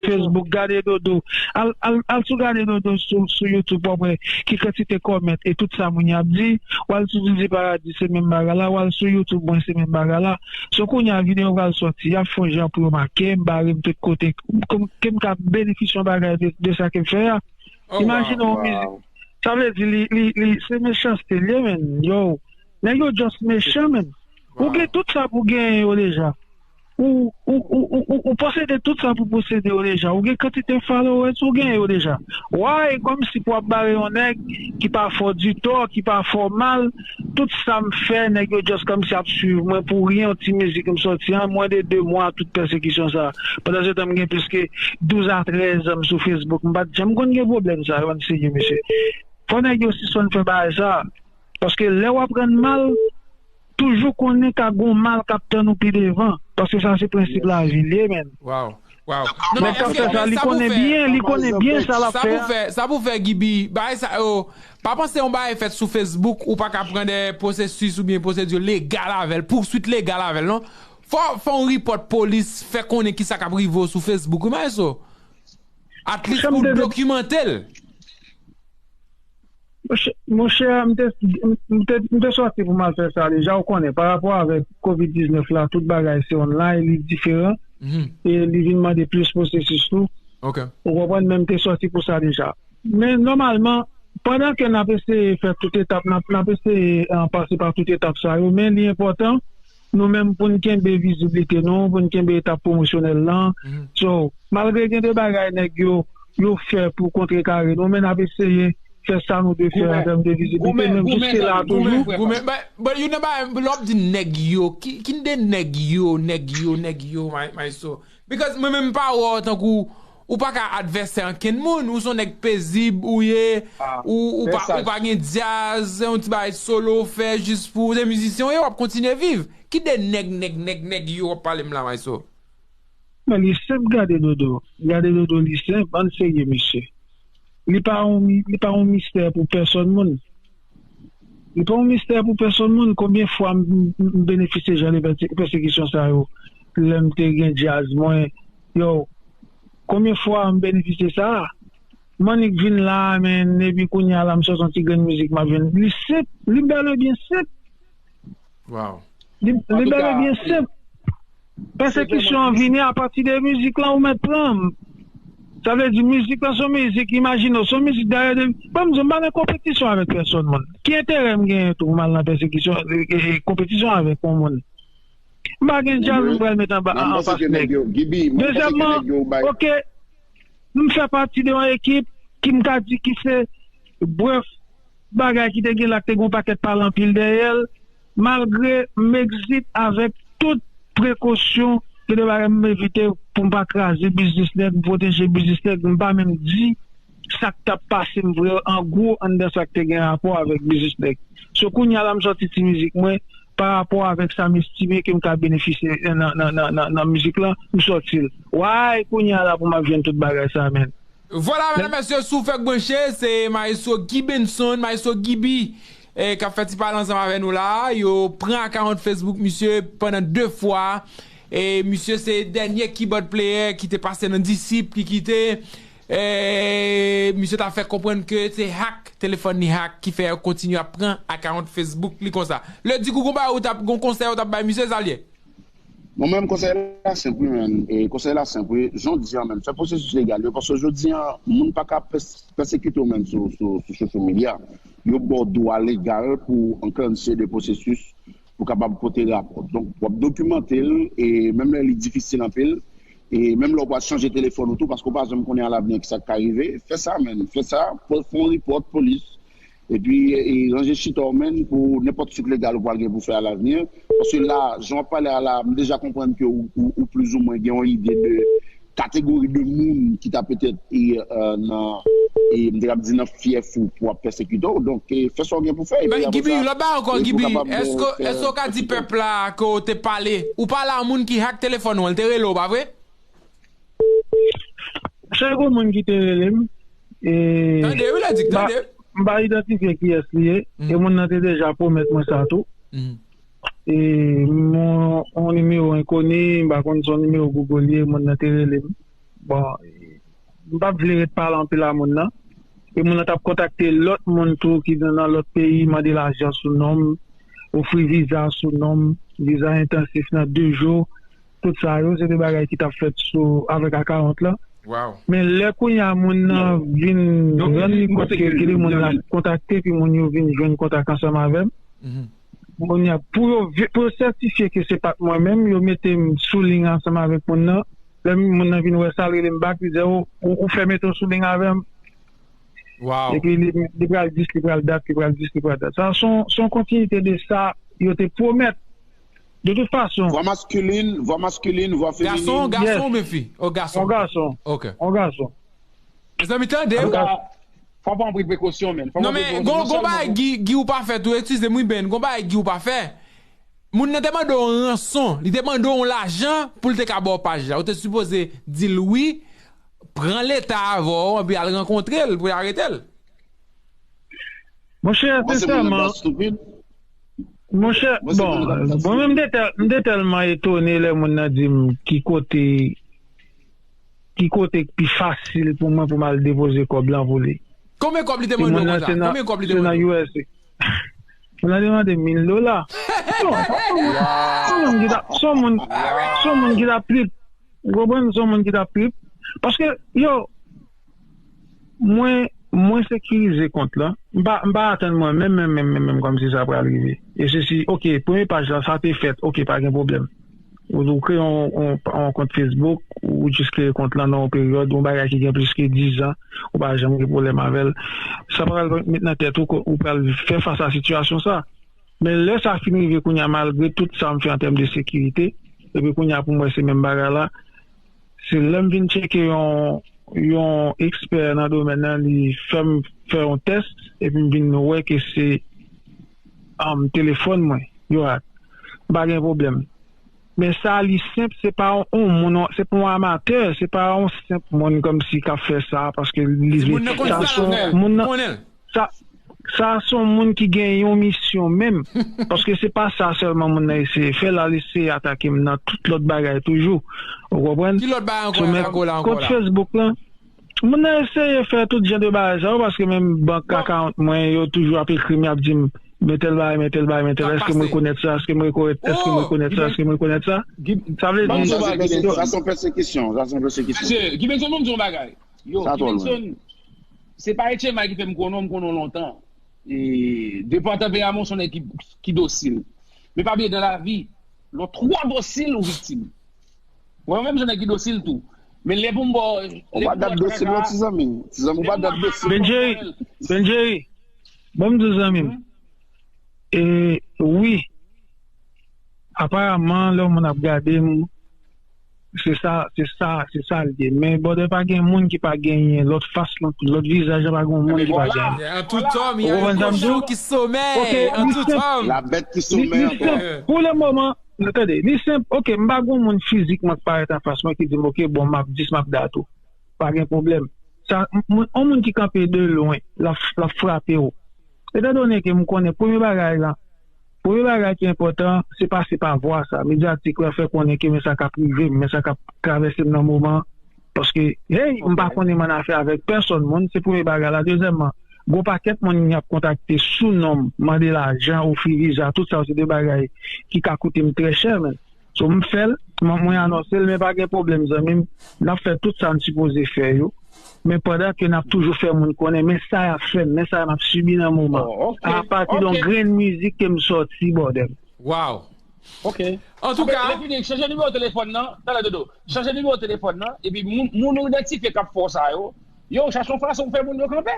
Facebook gade dodo al sou gade dodo sou YouTube wap wè ki kantite comment e tout sa moun yo ap di wal sou zizi paradis se menm bagay la wal sou YouTube mwen se menm bagay la so kounya video pral sòti yap fon jan pou yo makem barem tout kote kem ka benefisye yon bagay de sa kem fè a imajine yon mizik sa vle di li se mechanste liye menn yow nèg yo just mechan menn ou gen tout sa pou genyen yo deja. Ou posede tout sa pou posede yo deja ou gen kantite followers ou gen yo deja why komsi pou ap bare yon nèg ki pa fè w di tò ki pa fè w mal tout sa m fè nèg yo just komsi ap swiv mwen pou ryen yon ti mizik m sòti an mwen de 2 mwa tout pèsekisyon sa pandansetan m gen plis ke 12 a 13 an m sou Facebook m pat janm konn gen pwoblèm sa yo anseye mesye fò nèg yo sispann fè bagay sa paske lè wap rann mal Toujou konnen ka gon mal kap tann ou pi devan paske sa se prensip lavi li ye menn. Waw waw non men eske men sa pou fè sa pou fè sa pou fè gibi bagay sa yo pa panse yon bagay fèt sou facebook ou pa ka pran dè pwosesis ou byen pwosedi legal avèl pouswit legal avèl non fò fon ripòt polis fè konnen ki sa kap rive w sou facebook wi maestro atlis pou dokimantel. Mon chè, m te, m te, m te sòti pou m al fè sa deja, ou konnen, pa rapò avèk covid 19 la, tout bagay se online, li diferan, e li vin mande plis pwosesis tou, ou konprann, men m te sòti pou sa deja. Men nòmalman, pandan ke n ap eseye fè tout etap, n ap eseye pase pa tout etap sa yo, men li enpòtan, nou menm pou n kenbe viziblite nou, pou n kenbe etap pwomosyonèl lan. So, malgre gen de bagay nèg yo yo fè pou kontrekare nou, men n ap eseye fè sa nou dwe fè an tèm de viziblite nou menm jiske la a toujou. Goumen, bon youn nan bagay, lè w ap di nèg yo, ki de nèg yo, nèg yo, nèg yo, maestro? Because mwen menm m pa wè w tankou ou pa ka advèsè ankenn moun, ou son nèg pezib ou ye, ou pa ou pa gen dyaz, se yon ti bagay solo w fè jis pou, se mizisyen w ye w ap kontinye viv. Ki de nèg nèg nèg nèg yo w ap pale m la Maestro? Men li senp gade dodo gade dodo li senp ann serye mesye li pa yon li pa yon mistè pou pèsòn moun. Li pa yon mistè pou pèsonn moun konbyen fwa m benefisye jan de pèsekisyon sa yo lè m te gen djaz mwen yow konbyen fwa m benefisye sa m annik vin la a menn epi kounya la m sot yon ti grenn mizik m ap jwenn li senp li bèl e byen senp. Waw. Li bel e byen senp. Pèsekisyon an vini apati de mizik lan ou mèt pranm. Sa vle di mizik lan son mizik imajine w, son mizik dayè de Bon m di w m pa nan konpetisyon avèk pèsòn moun. Ki enterè m genyen tou pou m al nan pèsekisyon konpetisyon avèk yon moun. M pa gen djaz m pral met anba anfas nèg. Dezyèmman, ok m fè pati de yon ekip ki m ka di ki se bref. Bagay ki te gen la k te gen yon pakèt pale anpil dèyè l. Malgre m egzit avèk tout prekosyon, gen de bagay m evite pou m pa kraze biznis nèg, m pwoteje biznis nèg. M pa menm di sa k t ap pase m vre an gwo anndan sa k te gen rapò avèk biznis nèg. So kounye a la m sòti ti mizik mwen parapò avèk sa m estime ke m ka benefisye nan mizik lan, m sòti l. Way kounye a la pou m ap jwenn tout bagay sa menn. Vwala medam mesye si w fèk branche se maestro Guy Benson maestro Guiby kap fè ti pale ansanm avè nou la yo pran akawont Facebook misye pandan 2 fwa e misye se dènye kibòd pleyè ki te pase nan disip ki kite e misye ta fè konprann ke se hack telefòn li hack ki fè yo kontinye ap pran akawont Facebook li konsa le di gou gon bagay ou tap gon konsèy ou tap bay misye sa l ye? Bon men konsèy la senp wi men konsèy la senp wi jodi an men fè pwosesis legal yo paske jodi an moun paka pèsekite w men sou social media yo baw dwa legal pou anklanche de pwosesis pou kapab pote rapò donk wap dokimante l e menm lè li difisil anpil e menm lè w pral chanje telefòn ou tou paske w pa janm konnen alavni kisa k ka rive fè sa men fè sa fon ripòt polis Epi ranje chita w menn pou nenpòt suit legal ou pral gen pou fè a lavni an. Paske la, jan w ap pale a la, m deja konprann ke ou plizoumwen gen yon ide de kategori de moun ki ta petèt nan, m te kab di nan fyèf ou pou ap pèsekite w. Donk, fè sa w gen pou fè. Epi apre sa, epi w kapab fè sa w gen pou fè. Pèp la ke w te pale, ou pale a moun ki hack telefòn ou an, li te rele w pa vre? Sèl gwo moun ki te rele m e m pa idantifye kiyès li ye e moun nan te deja pwomèt mwen sa tou e yon nimewo enkoni m pa konn si yon nimewo Google li ye moun nan te rele m bon m pa t vle ret pale anpil a moun nan e moun nan t ap kontakte lòt moun tou ki nan lòt peyi mande lajan sou non m ofri viza sou non m viza entansif nan de jou. Tout sa yo se te bagay ki tap fèt sou avèk ak 40 lan. Men lè kounye a moun nan vin rann li kont ke li moun lap kontakte epi moun yo vin jwenn kontak ansanm avè m, kounye a pou yo pou yo sètifye ke se pat mwen menm yo mete m sou ling ansanm avèk moun nan, lè moun nan vin wè sa l rele m bak li di o ou fè mete w sou ling avè m epi li pral dis li pral dat li pral dis li pral dat sa son kontinite de sa yo te pwomèt. De tout fason. Vwa maskilin, vwa maskilin, vwa feminin. Gason, gason ou byen fi? Oh gason. On gason. Ok. On gason. Mezanmi tande. Antouka, fò pran anpil prekosyon men. Non men, gon, gon bagay Guy, Guy ou pa fè tou, eksizem wi Ben, gon bagay Guy ou pa fè. Moun nan te mande w on ranson, li te mande w on lajan pou l te ka ba w paj la. Ou te sipoze di l wi, pran leta avè w anpi al rankontre l pou y arete l. Monchè, sensèman. Ou panse moun nan pral stupid? Monchè, bon, mwen menm m te tèlman etone lè moun nan di m ki kote ki kote k pi fasil pou mwen pou m al depoze kòb lan pou li. Konbyen kòb li te mande w konsa? Konbyen kòb li te mande w? Se nan usa. Moun nan te mande m 1000 dola. Son moun, son moun ki ta pi, ou konprann? Son moun ki ta pi. Paske yo. Mwen Mwen sekirize kont lan. M pa M pa atann mwen menm menm menm menm menm kòmsi sa pral rive e sesi ok premye paj la sa te fèt ok pa gen pwoblèm ou ou kreye yon yon kont Facebook ou jis kreye kont lan nan yon peryòd yon bagay ki gen plis ke dizan ou pa janm gen pwoblèm avè l sa pral met nan tèt ou ke ou pral fè fas a sitiyasyon sa men lè sa fin rive kounye a malgre tout sa m fè antèm de sekirite epi kounye a pou m wè se menm bagay la. Se lè m vin tcheke yon yon ekspè nan domèn nan li fè m fè yon tès epi m vin wè ke se telefòn mwen yo ak, m pa gen pwoblèm. Men sa li senp se pa yon moun, se pa yon amatè, se pa yon senp moun kòmsi k ap fè sa paske li vle. Moun nan konnen l. Sa sa a son moun ki gen yon misyon menm paske se pa sa sèlman moun nan eseye fè la li eseye atake m nan tout lòt bagay toujou ou konprann Ki lòt bagay ankò yap atake w la ankò la? Kont Facebook lan moun nan eseye fè tout jan de bagay sa yo paske menm bank akawont mwen yo toujou ap ekri m yap di m men tèl bagay men tèl bagay men tèl èske m rekonèt sa èske m rekonèt èske m rekonèt sa èske m rekonèt sa sa vle di Sa se pèsekisyon sa se pèsekisyon. Mesye Guy Benson banm di yon bagay Yo, Kibenson, se pa HMI ki fè m konnen w, m konnen w lontan. E, de pa w tanperaman w se yon nèg ki dosil. Men pa bliye dan lavi, lè w twò dosil, ou viktim. Wè, mwen menm m se yon nèg ki dosil tou. Men lè pou m ba w, lè pou m ba w trakaka. Ou pa dat dosil non ti zanmi. Ti zanmi ou pa dat dosil. Ben Jerry, Ben Jerry, ban m di w zanmi m. E, wi, aparaman lè w moun ap gade m, Se sa, se sa, se sa l ye. Men brother pa gen moun ki pa genyen lòt fas, lòt vizaj, pa gen moun ki pa genyen. En tout homme il y a un cochon qui sommeille, en tout homme. La bête qui sommeille en toi. Pou le moman, tande, li senp, ok, m pa gen yon moun fizikman ki parèt anfas mwen ki di m ok bon m ap dis m ap dat ou. Pa gen pwoblèm. Sa, yon moun ki kanpe de lwen, l ap frape ou. Etandone ke m konnen premye bagay lan. Premye bagay ki enpòtan, se pase pa vwa sa medyatik la fè konnen ke men sa kap rive m, men sa kap travèse m nan moman an, paske hey m pa konnen m an afè avèk pèsòn moun, se premye bagay la, dezyèmman gon pakèt moun moun ap kontakte sou non m mande lajan, ofri viza, tout sa yo se de bagay ki ka koute m trè chè men. So m fèl, mwen anonsel men pa gen pwoblèm zanmim nap fè tout sa n sipoze fè yo men pandan ke nap toujou fè moun konnen men sa yap fèm men sa map sibi nan moman apati don grenn mizik kem sòti bòdèl. Waw ok antouka. Apre fini chanje nimewo telefòn nan talè dodo chanje nimewo telefòn nan epi moun ou idantifye kap fè w sa yo yo chache yon fason pou fè moun yo kanpe.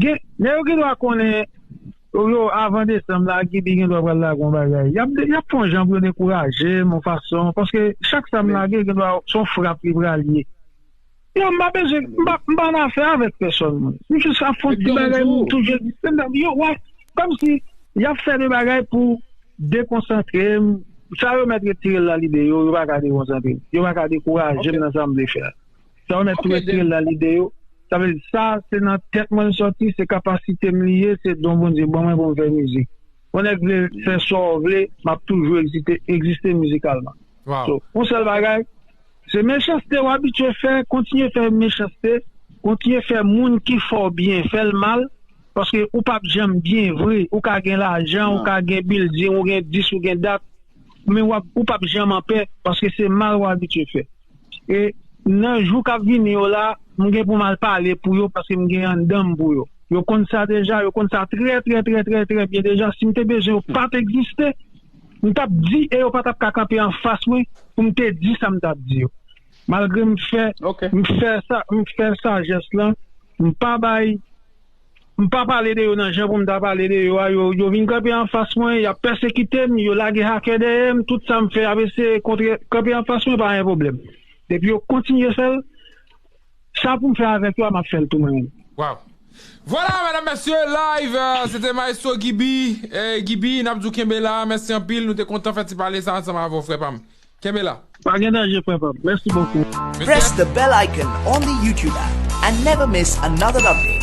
Gen Nèg yo gendwa konnen yo avan desanm la gibi gendwa pral lage yon bagay yap yap fè yon jan pou yo dekourajem yon fason paske chak sam lage gendwa son frap li pral ye yo mpa bezwen mpa mpa annafè avèk pèsòn mwen m jis ap fon ti bagay m touche yo wè kòmsi yap fè de bagay pou dekonsantrem sa yo mèt retirel nan lide yo yo paka dekonsantrem yo paka dekourajem nan sam vle fè a. Sa mèt tou espirel la li deyò. Sa vle di sa se nan tèt mwen l sòti, se kapasite m li ye, se don Bondye ban mwen pou m fè mizik. Yon nèg vle fè sa w vle, m ap toujou egzite, egziste mizikalman. So, yon sèl bagay, se mechanste w abitye fè, kontinye fè mechanste, kontinye fè moun ki fè w byen fè l mal, paske ou p ap janm byen vre. Ou ka gen lajan, ou ka gen bilding, ou gen dis, ou gen dat. men w ap ou pap janm anpè paske se mal w abitye fè e nan jou k ap vini yo la m gen pou m al pale pou yo paske m gen anndan m pou yo yo konn sa deja yo konn sa trè trè trè trè trè byen deja si m te bezwen yo pa t egziste m t ap di e yo pa t ap ka kanpe anfas mwen pou m te di sa m t ap di yo malgre m fè m fè sa m fè sajès lan m pa bay. M pa pale de yo nan jan pou m ta pale de yo a, yo vin kanpe anfas mwen, y ap pèsekite m, yo lage hakè dèyè m, tout sa m fè y ap eseye kontre, kanpe anfas mwen pa gen pwoblèm. Depi yo kontinye fè l, sa pou m fè avèk yo a m ap fè l tou mwen menm. Waw! Vwala medam mesye live se te maestro Guiby, Guiby n ap di w kenbe la, mèsi anpil nou te kontan fè ti pale sa ansanm avè w frè pa m. Kenbe la. Pa gen danje frè pam. Merci beaucoup. Press the bell icon on the YouTube app and never miss another update.